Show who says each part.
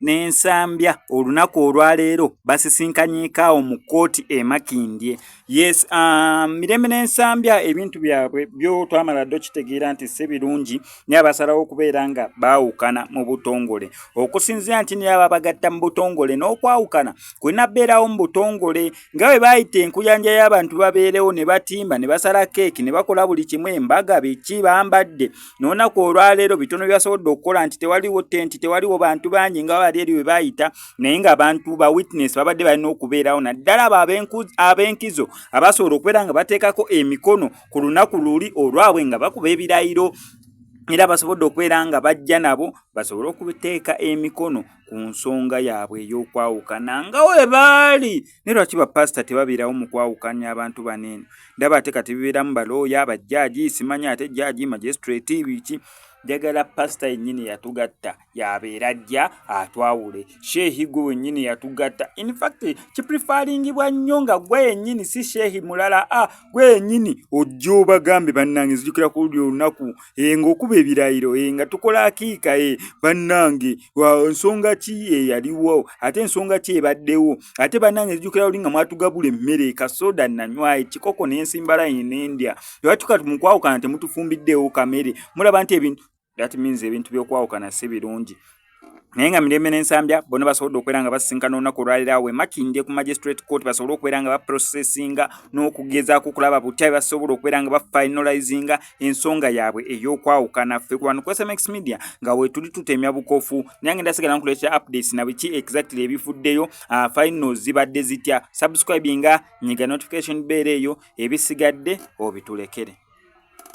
Speaker 1: n'ensambya olunaku olwaleero basisinkanyeekaawo mu kkooti e makindye Yes, uh, mirembe n'ensambya ebintu byabwe byo twamala ddo kitegeera nti si birungi naye abasalawo okubeera nga baawukana mu butongole okusinzira nti naye aba bagatta mu butongole n'okwawukana kulina beerawo mu butongole nga bwe baayita enkuyanja y'abantu babeerewo ne batimba ne basala keeki ne bakola buli kimu embaga biki bambadde n'onaku olwaleero bitono byasobodde okukola nti tewaliwo tenti tewaliwo bantu bangi nga bali eri bwe baayita naye nga abantu ba witness babadde balina okubeerawo naddala abo ab'enkizo abasobola okubeera nga bateekako emikono ku lunaku luli olwabwe nga bakuba ebirayiro era basobodde okubeera nga bajja nabo basobole okuteeka emikono ku nsonga yaabwe ey'okwawukana nga we baali naye lwaki bapasita tebabeerawo mu kwawukanya abantu baneeno ndaba ate kati bibeeramu balooya bajjaaji simanya ate jjaaji magistrate biki njagala pasita yennyini yatugatta yabeera ajja atwawule sheehi gwe wennyini yatugatta infact kiprifalingibwa nnyo nga gwe yennyini si sheehi mulala a ah, gwe yennyini ojja obagambe bannange nzijukira ku luli olunaku e eh, ngaokuba ebirayiro e nga tukola akiika e eh, bannange nsonga ki eyaliwo ate ensonga ki ebaddewo ate bannange nzijukira luli nga mwatugabula emmere kasoda nanywa ekikoko nensimbalayi nendya ebatuka mukwawukana temutufumbiddeewo kamere mulaba nti ebintu that means ebintu byokwawukana si birungi naye nga mirembe nensambya bona basobodde okubeera nga basinkana olunaku olwalira awo emakindye ku magistrate court basobole okubeera nga baprocessinga n'okugezaako okulaba butya basobola okubeera nga bafinalizinga ensonga yaabwe ey'okwawukana ffe ku bantu kwsmx media nga wetuli tutemya bukofu naye ngenda sigala nkuleeta updates na biki exactly ebifuddeyo ah, final zibadde zitya subscribinga nyiga notification beera eyo ebisigadde obitulekere